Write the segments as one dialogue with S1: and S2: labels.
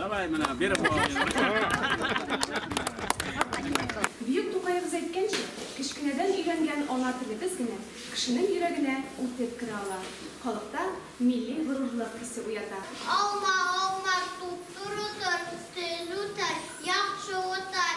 S1: Давай менә биреп Бөек Тукаебыз әйткәнчә, кечкенәдән өйрәнгән ана телебез генә кешенең йөрәгенә үтеп керә ала, халыкта милли горурлык хисе уята. Алма, алма,
S2: туп-туры тор, тел үтәр, яхшы утар.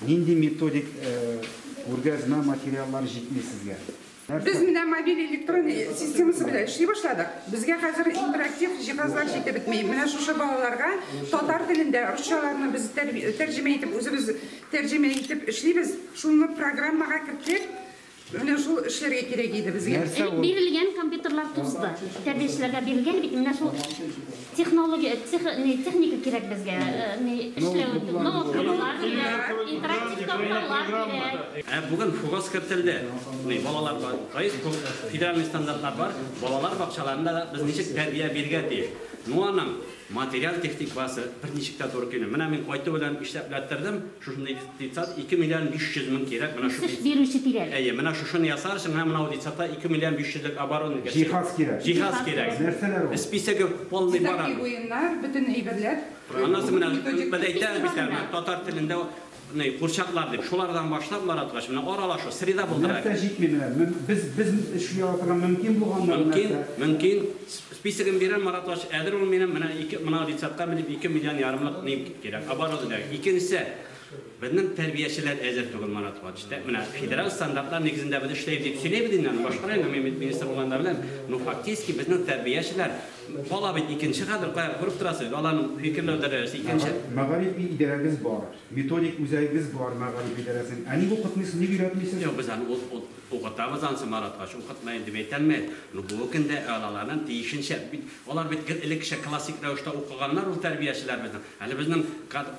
S3: Нинди методик күргәзмә материаллары җитми сезгә? Без менә
S4: мобиль электрон системасы белән эшли башладык. Безгә хәзер интерактив җиһазлар җитеп бетми. Менә шушы балаларга татар телендә русчаларны без тәрҗемә итеп, үзебез тәрҗемә итеп эшлибез. Шуны программага керттек. Менә шул эшләргә кирәк иде безгә. Элек бирелгән
S5: компьютерлар тузды. Тәрбиячеләргә бирелгән бит, менә шул технология, техника кирәк безгә эшләү өчен. Ноутбуклар кирәк, интерактив такталар кирәк. Ә бүген ФУГОС
S6: кертелде. Балалар бар. Федеральный стандартлар бар. Балалар бакчаларында да без ничек тәрбия бирергә тиеш. Ну аның. Материаль-техник базасы берничек тә туры килми. Менә мин кайту белән исәп ләттердем, шушындый детсад 2 миллион 500 мең кирәк, менә шу. Эш бирүче тирәли.
S5: Әйе, менә шушыны ясар
S6: өчен менә бу детсадта 2 миллион 500 лек оборудование кирәк. Җиһаз кирәк. Җиһаз
S3: кирәк. Нәрсәләр
S6: ул? Списогы
S3: полный бар
S6: аның. Дизакивуемнар, бөтен
S4: әйберләр. Аннан соң менә,
S6: без әйтәбез бит әле, татар телендә Ни, курчаклар дип, шулардан башлап яраткач, менә аралашу, среда булдыра. Нәрсә җитми менә?
S3: Без, без өчен яратырга мөмкин булганнар нәрсә? Мөмкин, мөмкин.
S6: Списогын бирәм, Марат врач, әзер ул минем, менә ике, моны рецептка белеп, ике миллион ярымлык ни кирәк, оборудование кирәк. Икенчесе, безнең тәрбиячеләр әзер түгел, Марат врач. Менә федераль стандартлар нигезендә без эшләйбез дип сөйлибез инде аны башкара инде, мин бит министр булганда беләм. Ну, фактически безнең тәрбиячеләр, Бала бит икенче хәзер, кая, күреп торасы, баланың фикерләү дәрәҗәсе икенче. Мәгарифи идарәгез
S3: бар, методик үзәгегез бар мәгариф идарәсенең. Ә ник укытмыйсыз, ник өйрәтмисез? Юк, без аны
S6: укытабыз ансы Маратгач, укытмыйм дип әйтәлмәй. Ну бүгенге көндә алаларның тиешенчә, бит алар бит гел элеккечә классик рәвештә укыганнар ул тәрбиячеләребезнең. Әле безнең кадр.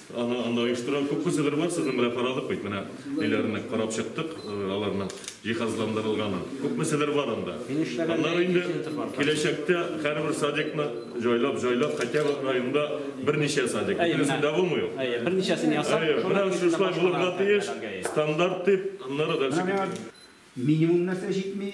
S7: Ага, анда оештырган күп кешеләр бар, сезнең белән карадык бит, менә ниләрне карап чыктык, аларның җиһазландырылганын. Күп кешеләр бар анда. Аннары инде киләчәктә һәрбер садикны җайлап, җайлап, хотя бы районда берничә садик. Бөтенесе дә булмый ул. Әйе, берничәсен ясап,
S6: шуның өчен шулай
S7: булырга тиеш, стандарт
S3: дип,
S7: аннары дальше китә. Минимум нәрсә
S3: җитми?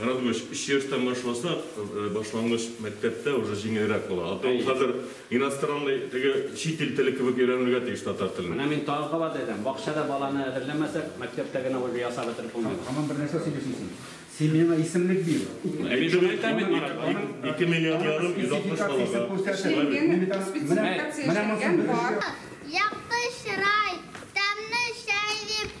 S8: Радмыч,
S7: өч яшьтән башласак, башлангыч мәктәптә уже җиңелрәк була. А то ул хәзер иностранный, теге чит ил теле кебек өйрәнергә тиеш татар телен. Менә мин тагын кабат әйтәм,
S6: бакчада баланы әзерләмәсәк, мәктәптә генә ольга ясап бетереп булмый. Һаман бер нәрсә сөйлисең син.
S3: Син миңа исемлек бир. Ә мин шуны әйтәм бит, Марат.
S7: Ике миллион ярым, 160 балага. Эшләнгән, спецификация эшләнгән
S2: бар. Якты чырай, тәмле чәй дип.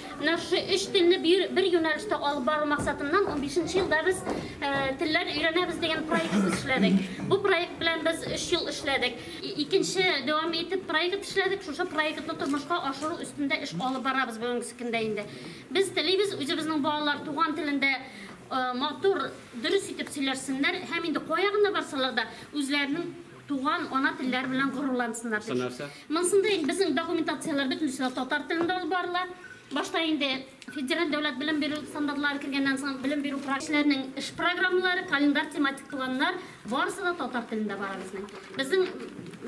S5: Нрши өч телне бер юнәлештә алып бару максатыннан унбишенче елда без Телләр өйрәнәбез дигән проектыбыз эшләдек. Бу проект белән без өч ел эшләдек. Икенче дәвам итеп проект эшләдек. Шушы проектны тормышка ашыру өстендә эш алып барабыз бүгенге көндә инде. Без телибез, үзебезнең балалар туган телендә матур, дөрес итеп сөйләшсеннәр һәм инде кая гына барсалар да үзләренең Туган, ана телләре белән горурлансыннар дип. Монсында инде безнең документацияләр бөтенесе дә татар телендә алып барыла. Башта инде федераль дәүләт белем бирү стандартлары кергәннән соң белем бирү проектларының эш программалары, календарь, тематик планнар барысы да татар телендә бара безнең. Безнең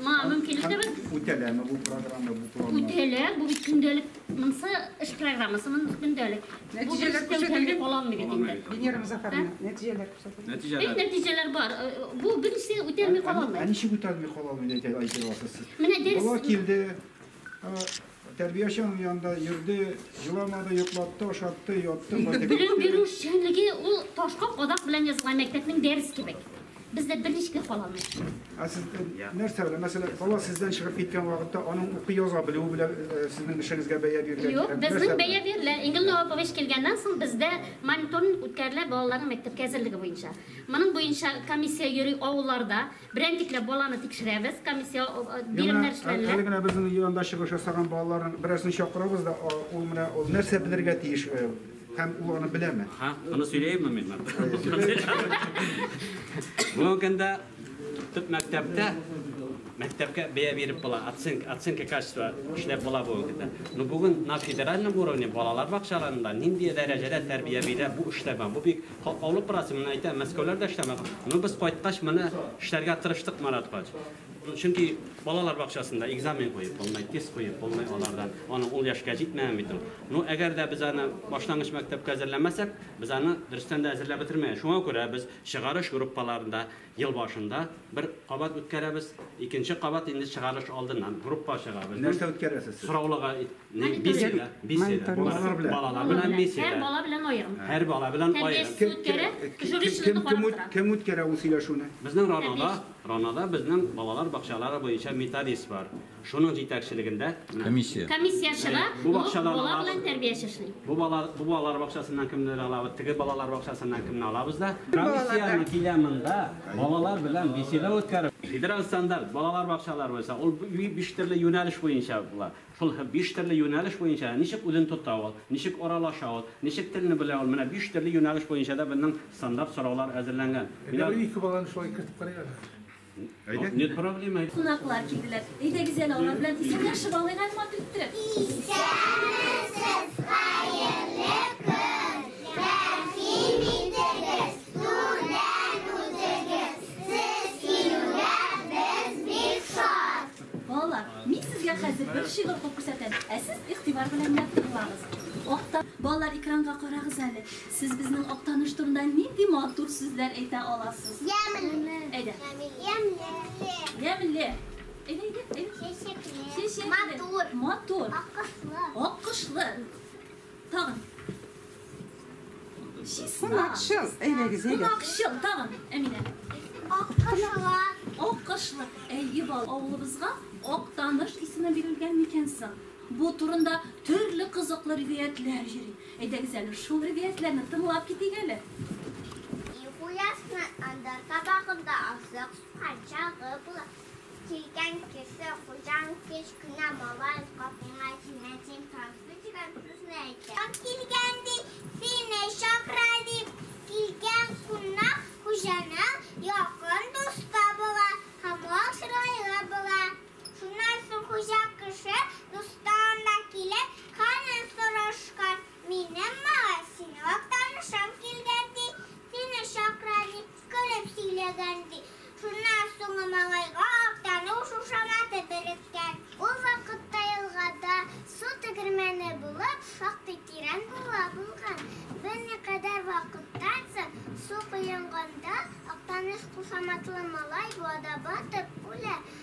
S5: моңа мөмкинлек тә бар. Үтәләме бу
S3: программа, бу планнар? Үтәлә, бу бит көндәлек.
S5: Монсы эш программасы, монысы көндәлек. Бу беренче тәү
S4: тәүлек кала алмый
S5: бит инде. Венера Мозафаровна,
S4: нәтиҗәләр. Нәтиҗәләр. Бик нәтиҗәләр бар. Э,
S5: э, бу берсе үтәлми кала алмый. Ә ничек үтәлми кала алмый
S3: дип әйтә аласыз сез? Менә дәрес. Бала килде. Тәрбияче аның янында йөрде, җыламады, йоклатты, ашатты, ятты, кайтып. Белем бирү
S5: эшчәнлеге ул ташка кадак белән язылган мәктәпнең дәрес кебек. Бездә берничек кала алмый. Ә сез
S3: нәрсә белән, мәсәлән, бала сездән чыгып киткән вакытта аның укый яза белүе белән сезнең эшегезгә бәя бирелә? Юк, безнең бәя
S5: бирелә. Ингел Новапович килгәннән соң бездә мониторинг үткәрелә балаларның мәктәпкә әзерлеге буенча. Моның буенча комиссия йөри авылларда. Берәнтикләп баланы тикшерәбез, комиссия биремнәр эшләнелә. Әле генә безнең янда
S3: чыгыш ясаган балаларның берәрсен чакырабыз да, ул менә ул нәрсә белергә тиеш? Һәм ул аны беләме? Ха, аны сөйләйме
S6: мин? Бу көндә төп мәктәптә мәктәпкә бәя биреп була, оценка, оценка качества эшләп була бу көндә. Ну бүген на федеральном уровне балалар бакчаларында нинди дәрәҗәдә тәрбия бирә бу эшләмә. Бу бик катлаулы процесс. Менә әйтәм, Мәскәүләрдә эшләмә. Ну без кайткач моны эшләргә тырыштык Марат хач. Чөнки балалар бакчасында экзамен куеп булмый, тест куеп булмый алардан. Аны ул яшькә җитмәгән бит ул. Ну, әгәр дә без аны башлангыч мәктәпкә әзерләмәсәк, без аны дөрестән дә әзерләп бетермәе. Шуңа күрә без чыгарыш группаларында ел башында бер кабат үткәрәбез, икенче кабат инде чыгарыш алдыннан группа чыгабыз. Нәрсә үткәрәсез сез?
S3: Сораулыга
S6: беседа, беседа. Балалар белән. Балалар белән беседа. Һәр бала белән аерым.
S5: Һәр бала белән аерым.
S6: Тәрбиясез үткәрә, жюристларны карап тора.
S3: Кем үткәрә ул сөйләшүне? Безнең Ранада,
S6: Ранада безнең балалар бакчалары буенча методист бар. Шуның җитәкчелегендә менә. Комиссия. Комиссия
S5: чыга, Бу бу бакчадан бала алабыз.
S6: белән тәрбияче
S5: эшли. Бу бала, бу балалар
S6: бакчасыннан кемнәр алабыз, теге балалар бакчасыннан кемне алабыз да. Комиссияне килә монда, балалар белән беседа үткәреп. Федераль стандарт, балалар бакчалары буенча, ул би биш төрле юнәлеш буенча була. Шул һэ биш төрле юнәлеш буенча ничек үзен тота ул, ничек аралаша ул, ничек телне белә ул, менә биш төрле юнәлеш буенча да безнең стандарт
S9: сораулар
S6: әзерләнгән. Әйдә, бер ике
S9: баланы
S6: шулай
S9: кертеп
S6: карыйк әле. Кунаклар килделәр.
S9: Әйдәгез әле алар белән исәнләшеп алыйк әле матур иттереп.
S2: Исәнмесез, хәерле көн! Рәхим итегез, түрдән үтегез. Сез килүгә без бик шат. Балалар, мин
S9: сезгә хәзер бер шигырь укып күрсәтәм, ә сез игътибар белән генә тыңлагыз. Балалар, экранга карагыз әле. Сез безнең Актаныш турында нинди матур сүзләр әйтә аласыз? Ямьле. Әйдә. Ямьле.
S2: Ямьле.
S9: Әйдә, әйдә, әйдә. Чәчәкле.
S2: Чәчәкле. Матур. Матур. Аккошлы.
S9: Аккошлы. Тагын.
S4: Чисна. Кунакчыл. Әйдәгез, әйдә. Кунакчыл. Тагын,
S9: Әминә. Аккошлы.
S2: Аккошлы.
S9: Әйе, бал. Авылыбызга Актаныш исеме бирелгән микән соң? Бу турында төрле кызыклы риваятләр йөри. Әйдәгез әле шул ревиятләрне тыңлап китик әле. Өй
S2: хуясына анда табагында азык сукачагы була. Килгән кеше хуҗаң кечкенә малай капыңа синнән син тансый дигән сүзне әйтә. Кем килгән ди, сине чакыра дип, килгән кунак хуҗаның якын дусты була һәм ул чырайлы була. Шуннан соң хуҗа кеше дустан да килеп, хәлен сорашкан. Минем малай, синең актанышың килгән, ди, сине чакыра, дип, көлеп сөйләгән, ди. Шуннан соң малайга актану шушаматы береккән. Ул вакытта елгада су тегермәне булып, шактый тирән буа булган. Берникадәр вакыттан соң, су коенганда, актаныш кушаматлы малай буада батып үлә.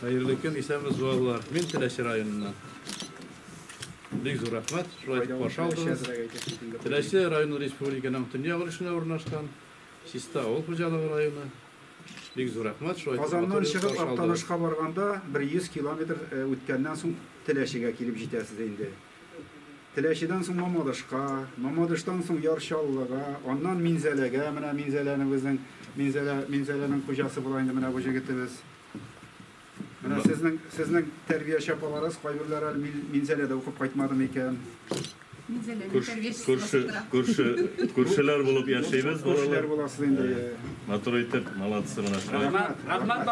S10: Хәерле көн, исәнме зуалар. Мин Теләче районыннан. Бик зур рәхмәт, шулай итеп каршы алдыгыз. Теләче районы республиканың төньяк өлешенә урнашкан, Чиста авыл хуҗалыгы районы. Бик зур рәхмәт, шулай итеп Казаннан чыгып
S3: Актанышка барганда, бер 100 километр үткәннән соң Теләчегә килеп җитәсез инде. Теләчедән соң Мамадышка, Мамадыштан соң Яр Чаллыга, аннан Минзәләгә, менә Минзәләне безнең, Минзәлә, Минзәләнең хуҗасы була инде менә бу җегетебез. Менә сезнең, сезнең тәрбияче апаларыз, кайберләре әле Мин- Минзәләдә укып кайтмады микән? Минзәләнең Күрш- тәрбиячесе Күрше,
S7: булып тора. күрше, күршеләр
S3: булып яшибез,
S7: Күршеләр балалар. буласыз инде. Матур итеп, молодцы, менә шулай. Рәхмәт, рәхмәт.